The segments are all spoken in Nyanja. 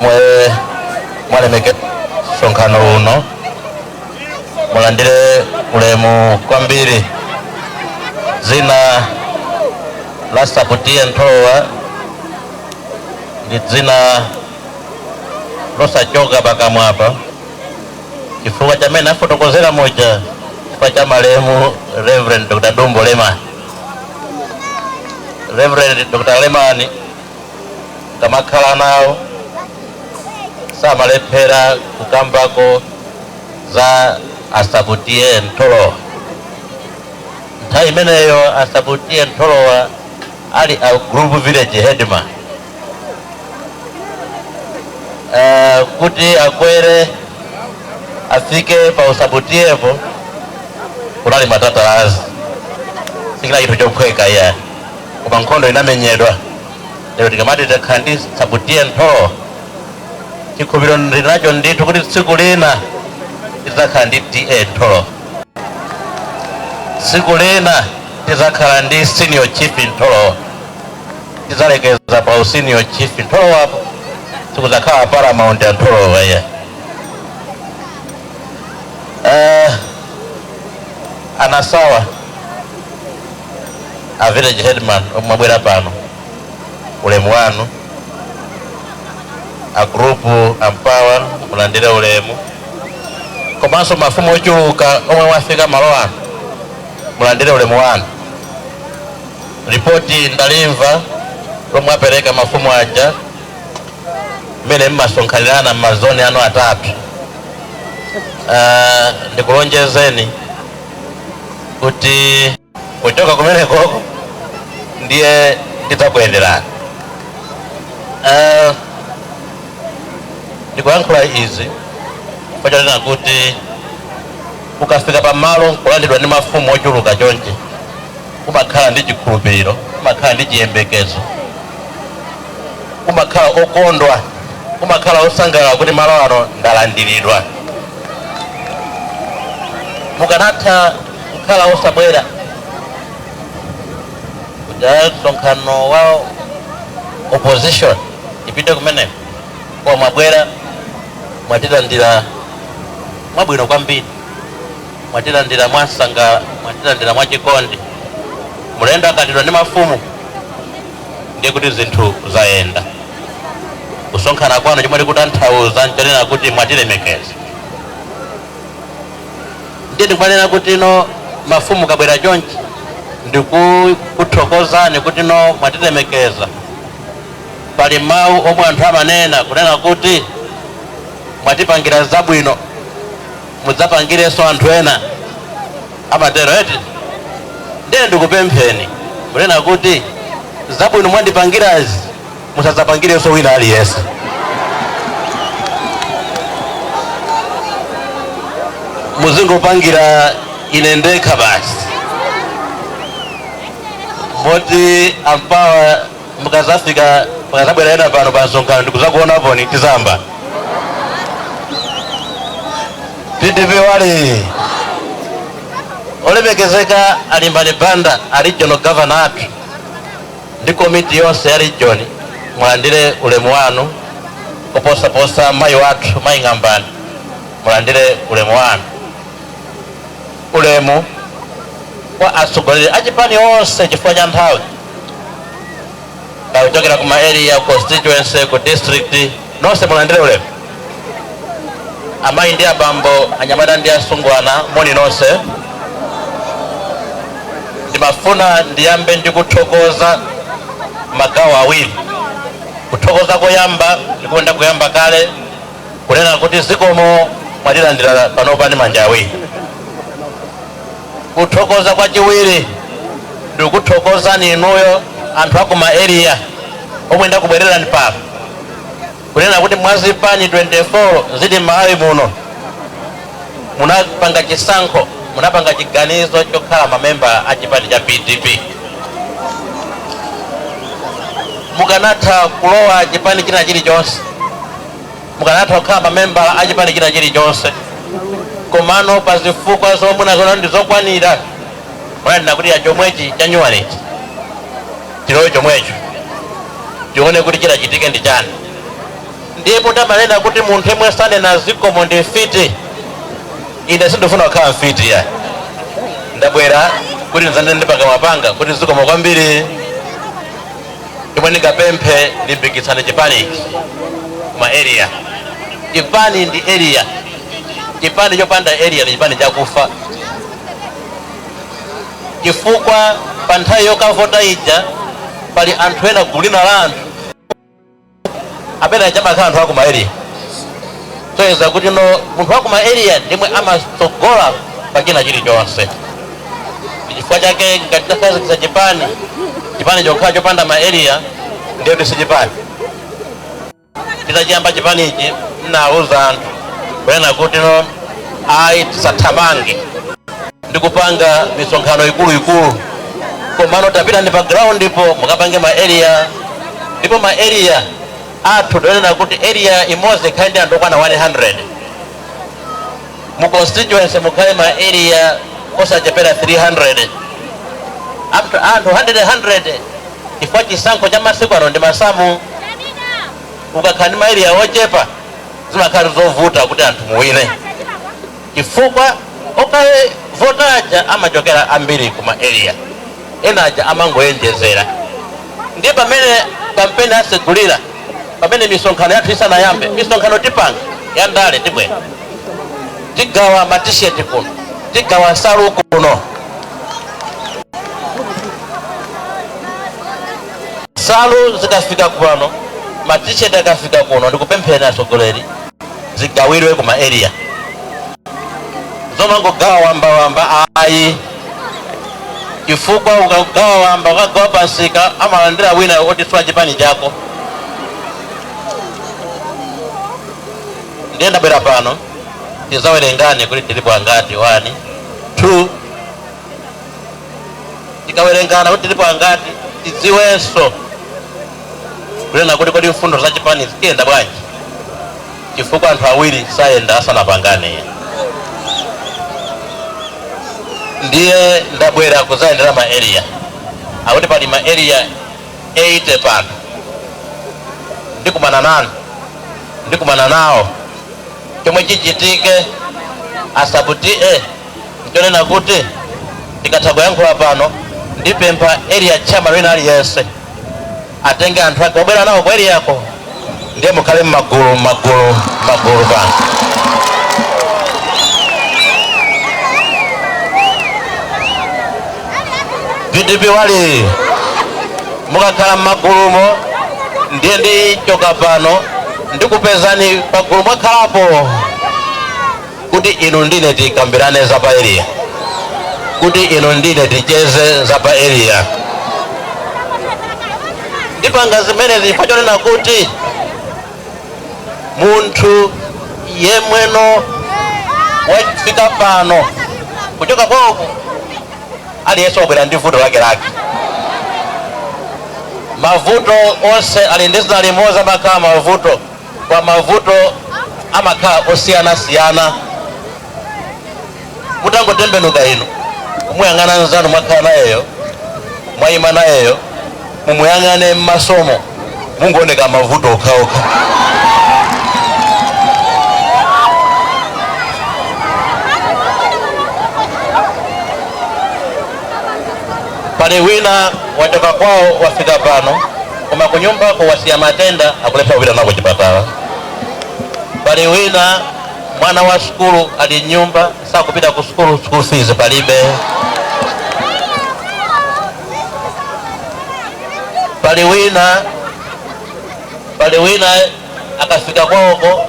mwe mwalemekeza msonkhano uno mulandire ulemu kwambiri dzina la sub ta ntholowa ndi dzina losachoka pakamwapa chifukwa cha mmene afotokozera muja chifukwa cha malemu reverend dr dumbo lemani reverend dr lemani kamakhala nawo samalephera kukambako za a sub ta ntholowa nthawi imeneyo a sub ta ntholowa ali a group village headman uh, kuti akwere afike pa usub ta po kunali matatalazi sichinali chinthu chophweka iyayi koma nkhondo inamenyedwa lero tikamati takhala ndi sub ta ntholowa chikhulupiriro ndili nacho ndithu kuti tsiku lina tidzakhala ndi ta ntholowa tsiku lina tidzakhala ndi senior chief ntholowa tidzalekeza pa usenior chief ntholowapo sikudzakhala paramount ya ntholowa iyayi uh, a nasawa a village headman omwe mwabwera pano ulemu wanu a group a mpawa mulandire ulemu komanso mafumu ochuluka omwe mwafika malo ano mulandire ulemu wanu ripoti ndalimva lomwe apereka mafumu aja mmene mmasonkhanirana m'mazoni anu atatu Ah, ndikulonjezeni kuti kuchoka kumeneko ndiye ndidzakuyenderani Eh, ndikuyankhula izi pachanena kuti ukafika pamalo nkulandiridwa ndi mafumu ochuluka chonchi umakhala ndi chikhulupiriro umakhala ndi chiyembekezo umakhala okondwa umakhala osangalala kuti malo ano ndalandiridwa mukanatha kukhala osabwera kuti "Ah, msonkhano wa opposition tipite kumeneko koma mwabwera mwatilandira mwabwino kwambiri mwatilandira mwansangala mwatilandira mwachikondi mulendo akalandiridwa ndi mafumu ndiye kuti zinthu zayenda. Kusonkhana kwanu chomwe tikutanthauza nchonena kuti mwatilemekeza. Ndiye ndikumanena kuti no mafumu kabwera chonchi ndikuthokozani kuti no mwatilemekeza. Pali mawu omwe anthu amanena kunena kuti mwatipangira zabwino mudzapangirenso anthu ena. amatero eti ndiye ndikupempheni kunena kuti zabwino mwandipangirazi musadzapangirenso wina aliyense muzingopangira ine ndekha basi moti ampawa mukazafika mukazabwera ena pano pa msonkhano ndikuzakuonaponi tizamba pdp wali olemekezeka alimbani banda a regional governor athu ndi komiti yonse ya region mulandire ulemu wanu koposaposa mayi wathu mayi ng'ambani mulandire ulemu wanu ulemu kwa atsogoleri achipani onse chifukwa cha nthawi kuchokera kuma area constituency ku district nonse mulandire ulemu amayi ndi abambo anyamata ndi asungwana moni nonse ndimafuna ndiyambe ndi kuthokoza magawo awiri kuthokoza koyamba ndikuenda kuyamba kale kunena kuti zikomo mwatilandira panopa ndi manja awiri kuthokoza kwachiwiri ndikuthokozani inuyo anthu akuma area omwe ndakubwererani pano kunena kuti mwazipani 24 zili m'malawi muno munapanga chisankho munapanga chiganizo chokhala mamembala a chipani cha pdp mukanatha kulowa chipani china chilichonse mukanatha kukhala mamembala a chipani china chilichonse komano pa zifukwa zomwe munaziona ndi zokwanira munanena kuti ya chomwechi chanyuwanichi tilowe chomwecho tione kuti chitachitike ndi chani Ndiye poti amanena kuti munthu yemwe sanena zikomo ndi mfiti, ine sindifuna kukhala mfiti iyayi. Ndabwera kuti ndidzanene ndi pakamwa panga kuti zikomo kwambiri. Chomwe ndingapemphe limbikitsani chipani ichi kuma area. Chipani ndi area, chipani chopanda area ndi chipani chakufa chifukwa pa nthawi yokavota ija pali anthu ena gulu lina la anthu amene aja amakhala anthu akuma area soyeza kuti no munthu wakuma area ndimwe amatsogola pa china chilichonse chifukwa chake ngati takhazikitsa chipani chipani chokhala chopanda ma area ndiye kuti si chipani titachiyamba chipani ichi ndinauza anthu kunena kuti no ayi tisathamange ndikupanga misonkhano ikuluikulu komano tapita ndi pa ground po mukapange ma area ndipo ma area athu tonena kuti area imodzi ikhale ndi anthu okwana 100 mu constituency mukhale ma area osachepera 300 up to anthu 100 100 chifukwa chisankho cha masiku ano ndi masamu ukakhala ndi ma area ochepa zimakhala zovuta kuti anthu muwine chifukwa okaivota aja amachokera ambiri ku ma area ena aja amangoyenjezera ndiye pamene kampeni asegulira pamene misonkhano yathu isanayambe misonkhano tipanga ya ndale tibwera tigawa matisheti kuno tigawa nsalu kuno nsalu zikafika kuno matisheti akafika kuno ndikupempheni atsogoleri zigawirwe ku ma area zomangogawa wamba wamba ayi chifukwa ukagawa wamba ukagawa pansika amalandira wina oti si wa chipani chako ndiye ndabwera pano tizawerengane kuti tilipo angati 1 2 tikawerengana kuti tilipo angati tidziwenso kunena kuti kodi mfundo za chipani zikuyenda bwanji chifukwa anthu awiri sayenda asanapangane ndiye ndabwera kuzayendera ma area akuti pali ma area 80 pano ndikumana nanu ndikumana nawo chomwe chichitike a sub TA nchonena kuti tikatha kuyankhula pano ndipempha area chairman wina aliyense atenge anthu ake obwera nawo ku area ko ndiye mukhale mmagulu mmagulu mmagulu pano vdp wali mukakhala mmagulumo ndiye ndichoka pano ndikupezani pagulu mwakhalapo kuti inu ndine tikambirane za pa area, kuti inu ndine ticheze za pa area. Ndipanga zimenezi chifukwa chonena kuti munthu yemweno wafika pano kuchoka kwako aliyense wabwera ndi vuto lake lake mavuto onse ali ndi dzina limodzi amakhala mavuto koma mavuto amakhala osiyanasiyana mutangotembenuka inu kumuyang'ana nzanu mwakhala nayeyo mwayima nayeyo mumuyang'ane m'masomo mungooneka mavuto okhaokha pali wina wachoka kwawo wafika pano koma kunyumbako wasiya matenda akulephera kupita nawo kuchipatala pali wina mwana wa sukulu ali m'nyumba sakupita ku sukulu school fees palibe pali wina pali wina akafika kwawoko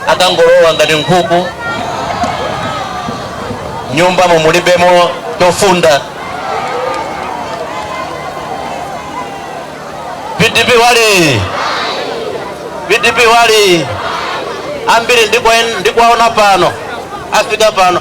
akangolowa ngati nkhuku m'nyumbamo mulibemo chofunda pdp wali pdp wali ambiri ndikwaona pano afika pano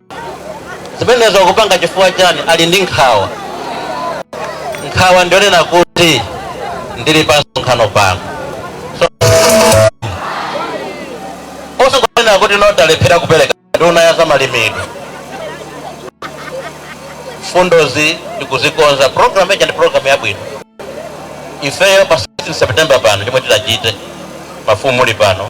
zimenezo akupanga chifukwa chani ali ndi nkhawa nkhawa ndi yonena kuti ndili pa msonkhano pano so, osakunena kuti nodalephera kupereka nduna ya zamalimidwe mfundozi ndikuzikonza programu ija ndi programu yabwino ifeyo pa 16 september pano chomwe tidzachite mafumu muli pano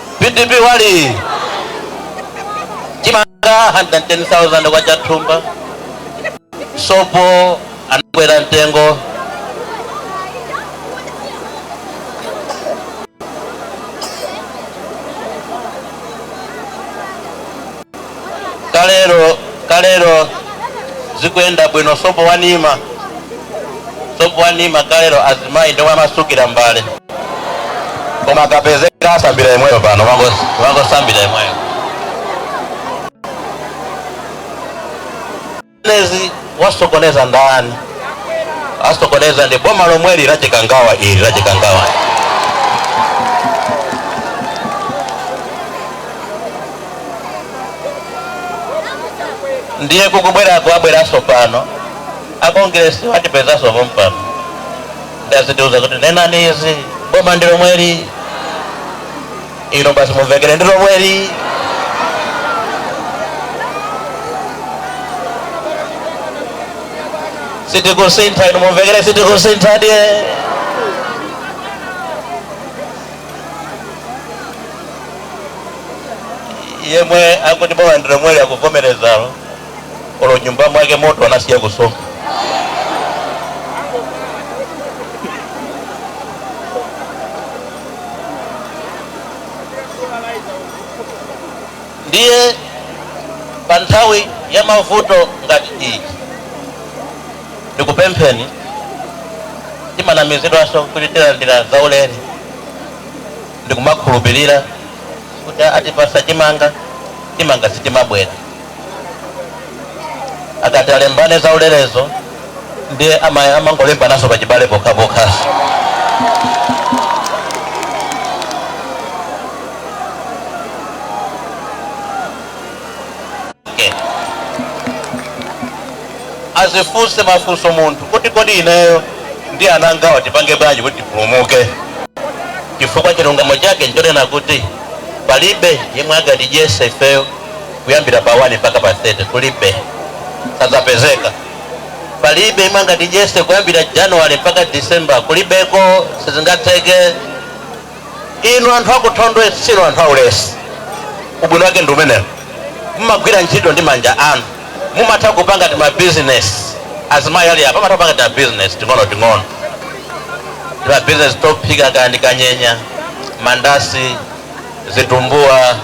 pdp wali chimanga 110000 kwacha thumba sopo anakwera mtengo kalero kalero zikuyenda bwino sopo wa nima sopo wa nima kalero azimayi ndi omwe amatsukira mbale koma kapezeka asambira imweyo pano umangosambira imweyo Zimenezi wasokoneza ndani? Asokoneza ndi boma lomweli la chikangawa ili la chikangawa. Ndiye kukubwerako abweranso pano akongeresi watipezanso pompano ndazitiuza kuti nenani izi boma ndi lomweli inu basi mumvekere ndi lomweli sitikusintha inu mumvekere sitikusintha ndiye yemwe akuti boma ndi lomweli akuvomerezalo olo nyumba mwake moto anasiya kusonkha ndiye pa nthawi ya mavuto ngati iyi ndikupempheni timanamizidwanso kuti tilandira zaulere ndikumakhulupirira kuti atipasa chimanga chimanga sitimabwera akati alembane za ulerezo ndiye ama- amangolembanaso pachibale pokhapokhaso azifunse mafunso munthu kuti kodi ineyo ndi ana angawa tipange bwanji kuti tipulumuke chifukwa chilungamo chake nchonena kuti palibe yemwe angatidyese ifeyo kuyambira pa 1 mpaka pa 30 kulibe sadzapezeka palibe yemwe angatidyese kuyambira january mpaka december kulibeko sizingatheke inu anthu aku thondwe si inu anthu aulesi ubwino wake ndi umenewo mumagwira ntchito ndi manja anu mumatha kupanga timabizinesi azimayi ali apa amatha kupanga timabizinesi ting'ono ting'ono timabizinesi tophika kaya ndi kanyenya mandasi zitumbuwa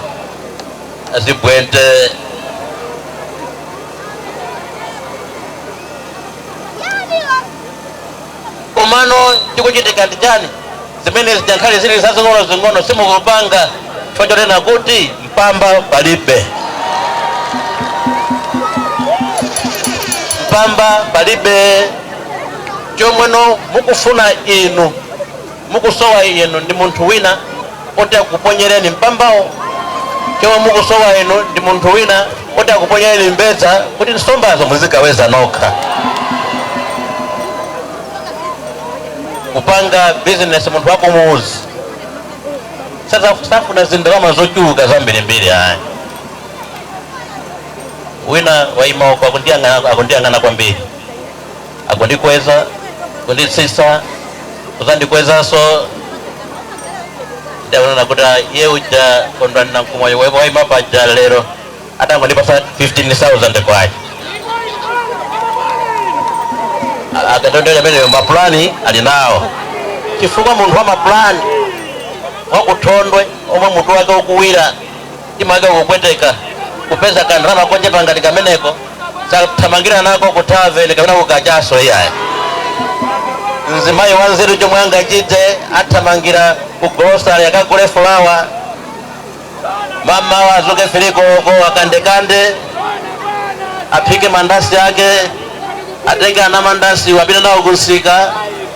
zibwente komano chikuchitika ndi chani zimene zingakhale zili zazing'ono zing'ono simukupanga chifukwa chonena kuti mpamba palibe mpamba palibe chomweno mukufuna inu Mukusowa inu ndi munthu wina oti akuponyereni mpambawo. Chomwe mukusowa inu ndi munthu wina oti akuponyereni mbedza kuti nsombazo muzikaweza nokha. Kupanga bizinesi munthu wakumuzi saza- safuna zindalama zochuluka zambirimbiri ayi. Wina waima uko akundiyang'ana akundiyang'ana kwambiri. akundikweza kunditsitsa kuzandikwezanso ndaona kuti ah, iye uja Kondwani Nankhumwa waima paja lero atangondipasa 15000 kwacha akatondera ameneyo mapulani ali nawo chifukwa munthu wa mapulani wa ku thondwe omwe mutu wake ukuwira Chimake kupweteka kupeza ka ndalama kochepa ngati kameneko, sathamangira nako ku tavern kapena ku kachaso iyayi. Mzimayi wanzeru chomwe angachite athamangira ku grocery akagule fulawa, mamawa azuke fili koloko akandekande, aphike mandasi ake, atenge anamandasi apite nawo kunsika,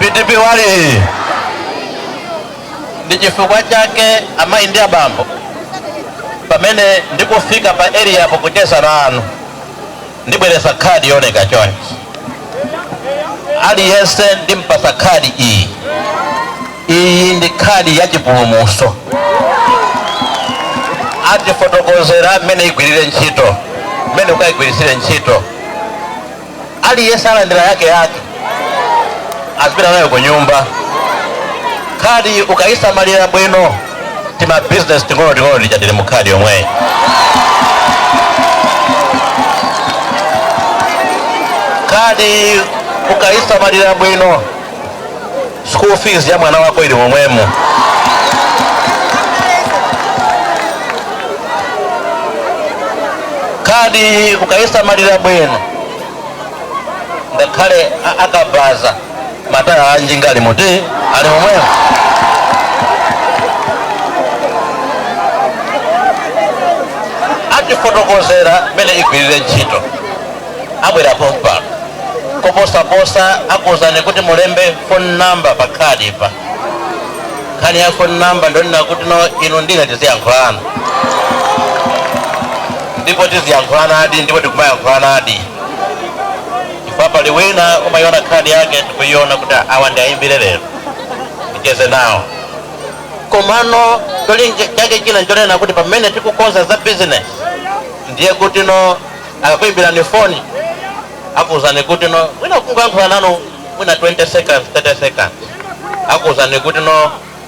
pdp wali ndi chifukwa chake amayi ndi abambo pamene ndikufika pa area apo kucheza nanu Ndibweresa khadi yooneka chonchi. Aliyense ndimpasa khadi iyi. Iyi ndi khadi ya chipulumuso. Atifotokozera mmene igwirire ntchito, mmene ukayigwirisire ntchito. Aliyense alandira yake yake azipita nayo kunyumba. Khadi ukayisamalira bwino. tima business ting'ono ting'ono tija tili mu khadi yomweyi khadi ukaisamalira bwino school fees ya mwana wako ili momwemo khadi ukaisamalira bwino ngakhale a- akabaza mataya a njinga ali muti ali momwemo atifotokozera mmene igwirire ntchito abwera pompano koposaposa akuwuzani kuti mulembe phone number pa khadi pa nkhani ya phone number ndonena kuti no inu ndine tiziyankhulana ndipo tiziyankhulana adi ndipo tikumayankhulana adi Chifukwa pali wina umayiona khadi yake ndikuyiona kuti awa ndiayimbire lero ticheze nawo komano cholinga chake china nchonena kuti pamene tikukonza za business ndiye kuti no akakuyimbirani foni akuwuzani kuti no mwina kungoyankhula nanu mwina 20 seconds 30 seconds akuwuzani kuti no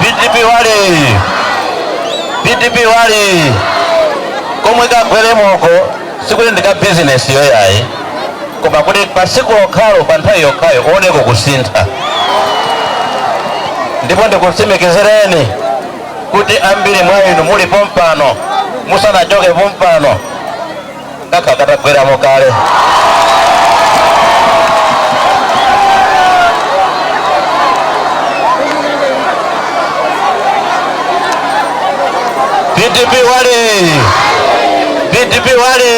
pdp wali pdp wali komwe kagweremoko sikuti ndi ka bizinesi yoyayi koma kuti pa siku lokhalo pa nthawi yokhayo kuoneko kusintha ndipo ndikutsimikizireni kuti ambiri mwa inu muli pompano musanachoke pompano kaka katagweramo kale DPP wale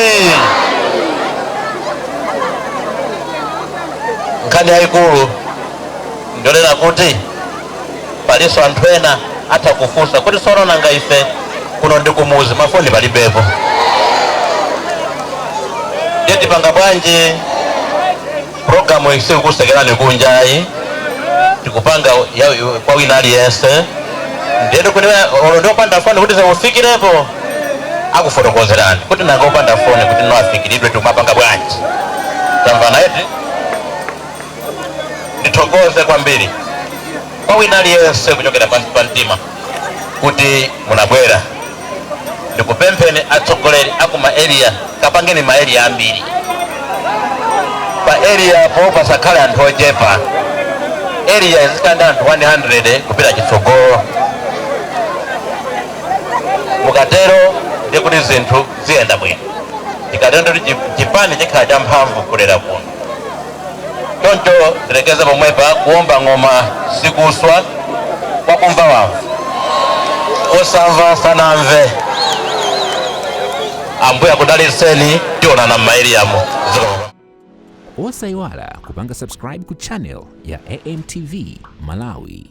nkhani yayikulu ndiyonena kuti palinso anthu ena atha kufunsa kuti sono nanga ife kuno ndi kumuzi mafoni palibepo ndiye tipanga bwanji programu iyi sikukusekerani kunja ayi tikupanga kwa wina aliyense ndiye kuti olo ndi opanda foni kuti zimufikirepo akufotokozerani kuti nanga opanda foni kuti nawo afikiridwe tikumapanga bwanji tamvana eti ndithokoze kwambiri kwa wina aliyense kuchokera pansi pa mtima kuti munabwera ndikupempheni atsogoleri aku ma area kapangeni ma area ambiri pa area po pasakhale anthu ochepa area izikhala ndi anthu 100 kupita chitsogolo mukatero ndi kuti zinthu ziyenda bwino tikatero ndi kuti chipani chikhala champhamvu kulera kuno Choncho tilekeze pomwepa kuomba ng'oma sikuswa, wakumva wamva, osamva sanamve. Ambuye akudalitseni, tionana m'maeliyamo. Osayiwala kupanga subscribe ku channel ya AMTV Malawi.